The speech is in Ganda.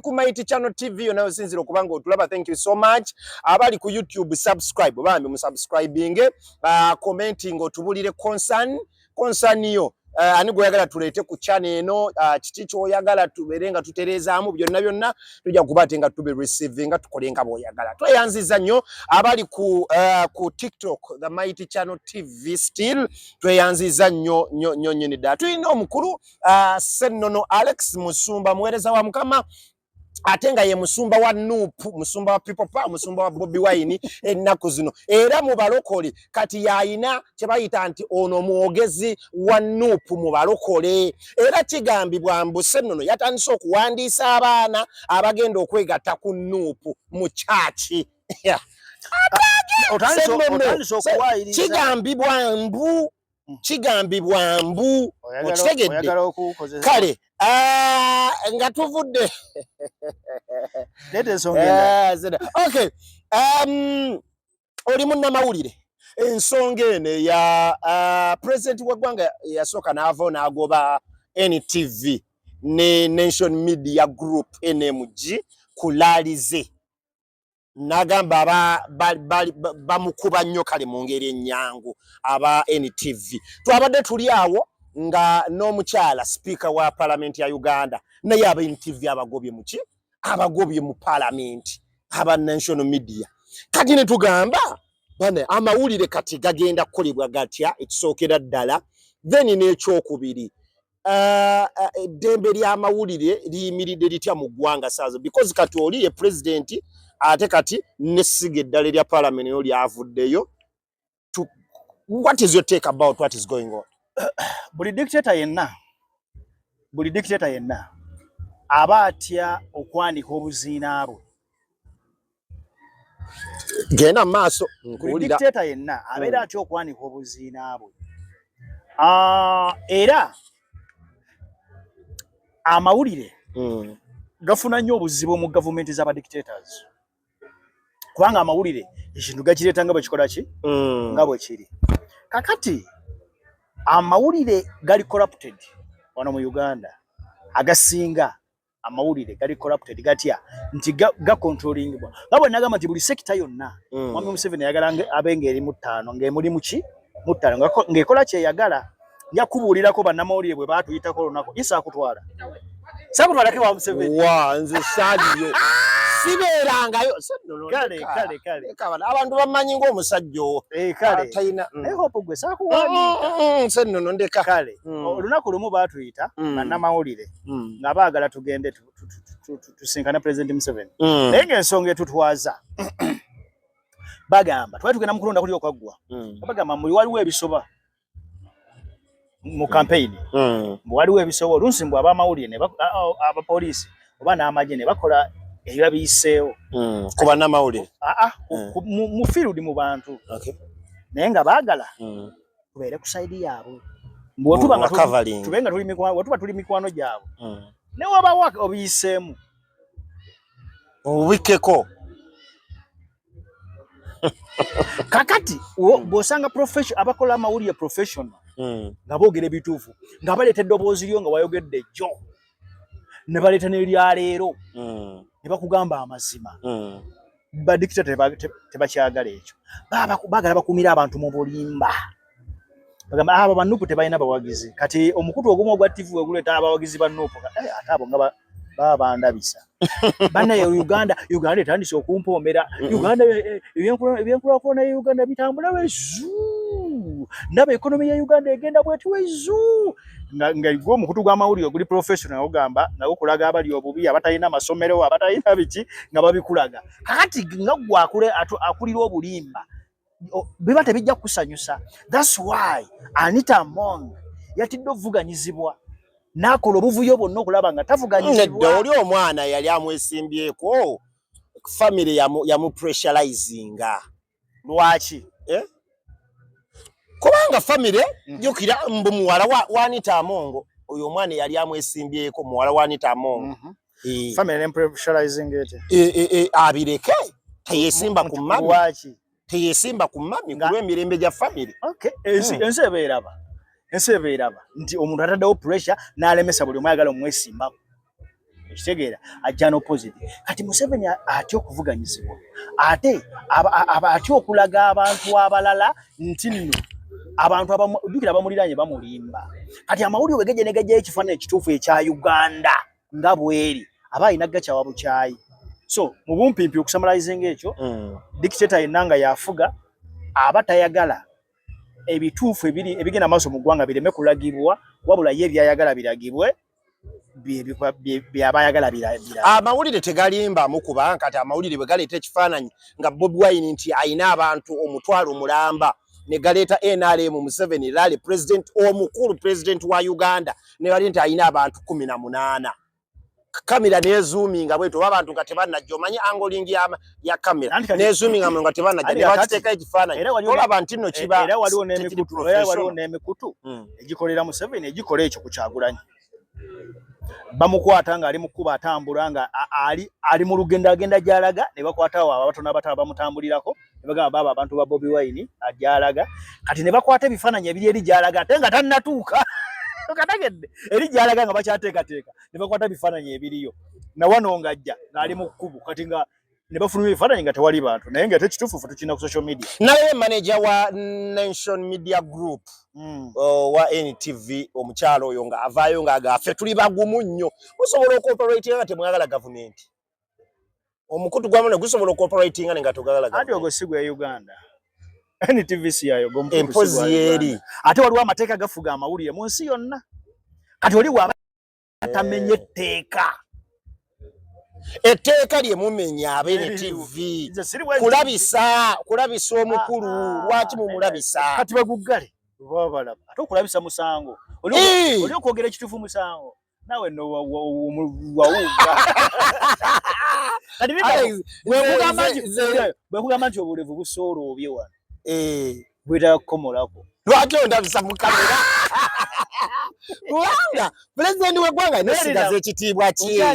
ku Mighty Channel TV yona yosinzira okuba nga otulaba thank you so much abali ku YouTube subscribe bambi mu subscribing uh, commenting otubulire concern concern yo Eh, ani gweyagala tuleete ku chana eno ah, kiki kyoyagala tubeere nga tutereezaamu byonna byonna tujja kuba ate nga tube receive nga tukole nga bwoyagala tweyanziza nnyo abali ku eh, ku tiktok the mighty channel tv still tweyanziza nnyo nnyo nnyo nyini ddala tulina omukulu uh, Sennono Alex Musumba muwereza wa mukama ate nga ye musumba wa nup musumba wa people power musumba wa bobi wine ennaku zino era mu balokole kati yayina kye bayita nti ono mwogezi wa nup mu balokole era kigambibwa mbu sennono yatandise okuwandiisa abaana abagenda okwegatta ku nup mu kyaki kigambibwa mbu hmm. kigambibwa mbu okitegedde kale ah, nga tuvudde eh, um, oli munnamawulire ensonga eno eya ah, pulezidenti w'eggwanga yasooka n'ava n'agoba ntv ne nation media group nmg kulaalize nagamba bamukuba ba, ba, nnyo kale mu ngeri ennyangu aba NTV twabadde tuli awo nga n'omukyala sipiika wa palamenti ya Uganda naye aba NTV abagobye muki abagobye mu palamenti aba national media kati ne tugamba bane amawulire kati gagenda kukolebwa gatya ekisookera ddala then n'ekyokubiri eh, eh, eddembe uh, uh, ly'amawulire liyimiridde litya mu ggwanga saazo because kati oli ye pulezidenti ate kati nesiga eddala erya palamenti yo lyavuddeyo what is your take about what is going on buli dictator yenna buli dictator yenna aba atya okwanika obuziina bwe genda mu maaso nkuwulira dictator yenna abeera hmm. atya okwanika obuziina bwe ah, era amawulire hmm. gafuna nnyo obuzibu mu gavumenti z'aba dictators kubanga amawulire ekintu gakireeta nga bwekikola ki hmm. nga bwekiri kakati amawulire gali corrupted wano mu uganda agasinga amawulire gali corrupted gatya nti ga, ga controllingibwa nga bwe nagamba nti buli sekita yonna mm. mwami museveni ayagala abe ng'eri mu ttaano ng'emuli muki mu ttaano ng'ekola kyeyagala nja kubuulirako bannamawulire bwe baatuyitako olunaku isa akutwala sakutwalako ewa museveni wa nze saaliyo sibeerangayo kale kale kale abantu bamanyi ng'omusajja owo eh, kale talina mm. naye hope gwe sakuwa mm, mm, nse nnono ndeka kale olunaku lumu baatuyita bannamawulire mm. nga baagala tugende tusinkane president Museveni mm. naye ng'ensonga etutwaza bagamba twali tugenda mukulonda kuli okwaggwa mm. bagamba muli waliwo ebisoba mu kampeyini mm. mm. waliwo ebisoba oluusi mbu abamawulire abapoliisi oba n'amagye ne bakola ebiba biyiseewo mm. ku bannamawulire aa ah, ah, mm. mu field mu bantu okay. naye nga baagala mm. tubeere ku sayidi yaabwe bwetuba nga tube nga tuli mikwano bwetuba tuli mikwano gyabwe mm. ne wabawo obiyiseemu obikkeko kakati hmm. bwosanga abakola amawulire professional hmm. nga boogera ebituufu nga baleeta eddoboozi lyo nga wayogedde jjo ne baleeta n'erya leero hmm. ne bakugamba amazima hmm. badikita tebakyagala ekyo bagala bakumira abantu mu bulimba bagamba abo banupu tebalina bawagizi kati omukutu ogumu ogwa tivi weguleeta abawagizi banupu eh, ate abo nga babandabisa ba, bana ya Uganda Uganda etandise okumpoomera Uganda eh, eh, ebyenkulakulana ya Uganda bitambula wezu naba ekonomi ya Uganda egenda bweti wezu nga gwe omukutu gw'amawulire oguli professional ogamba nga gukulaga abali obubi abatalina amasomero abatalina biki nga babikulaga kakati nga gwe akulira obulimba biba tebijja kukusanyusa. That's why Anita Among yatidde okuvuganyizibwa n'akola obuvuyo bwonna okulaba nga tavuganyizibwa. Oli omwana yali amwesimbyeko, famire yamupressurizinga. Lwaki? Eh? Kubanga famire mm. jjukira mbu muwala wa Anita Among oyo omwana yali amwesimbyeko muwala wa Anita Among. Mm-hmm. eh. family ne pressurizing it eh, eh, eh abireke teyesimba ku mami wachi teyesimba ku mami kulwe mirembe ja family okay ensi hmm. ensi ebeeraba ensi ebeeraba nti omuntu ataddewo pressure n'alemesa buli omu ayagala omwesimbako ekitegeera ajja n'opposite kati museveni atya okuvuganyizibwa ate atya okulaga abantu abalala nti nno abantu abajukira abamuliranye bamulimba kati amawulire wegeje negejjayo ekifaananyi ekituufu ekya uganda nga bweri aba alina gakyawa bukyayi so mu bumpimpi okusamalizinga ekyo mm. dictator yenna nga yafuga aba tayagala ebituufu ebiri ebigenda maaso mu ggwanga bireme kulagibwa wabula ye ebyayagala biragibwe byaba ayagala birabira amawulire tegalimbamu kuba kati amawulire bwe galeeta ekifaananyi nga bobi wine nti alina abantu omutwalo mulamba ne galeeta nrm museveni lali president omukulu president wa uganda ne bali nti alina abantu kumi na munaana kamera nezuminga bwetu oba abantu nga tebanajja omanyi angoling ya, ya kamera nezuminga nga tebanajja nebakiteeka ekifaananyi olaba nti no kiba era waliwo n'emikutu hmm. egikolera museveni egikola ekyo ku kyagulanyi bamukwata ng'ali mu kkuba atambula nga ali ali mu lugendo agenda gy'alaga ne bakwata awo abatono abato abamutambulirako ne bagamba baaba abantu ba bobi wine agyalaga kati ne bakwata ebifaananyi ebiri eri gy'alaga ate nga tannatuuka kategedde eri gy'alaga nga bakyateekateeka ne bakwata ebifaananyi ebiriyo na wano ng'ajja ng'ali mu kkubo kati nga ne bafuluma ebifaananyi nga tewali bantu naye nga ate kituufu fe tukirina ku social media naye manaja wa nation media group mm. owa oh, ntv omukyalo oyo nga avaayo nga agafe tuli bagumu nnyo musobola okooperatinga nga temwagala gavumenti omukutu gwamu ne gusobola okooperatinga ne nga togagala ati ogwo si gwe uganda ntv si yayo empozi yeeri ate waliwo amateeka gafuga amawulire mu nsi yonna kati oli wa atamenye etteeka etteeka lye mumenya abeere tv kulabisa kulabisa omukulu ah, ah, lwaki mumulabisa ah, kati baguggale babalaba ate okulabisa musango oli okwogera ekituufu musango nawe nowawuga bwekugamba nti obulevu busooloobye wano eh bwira komolako lwaki ondabisa mu kamera kubanga pulezidenti w'eggwanga nesigaza ekitiibwa kye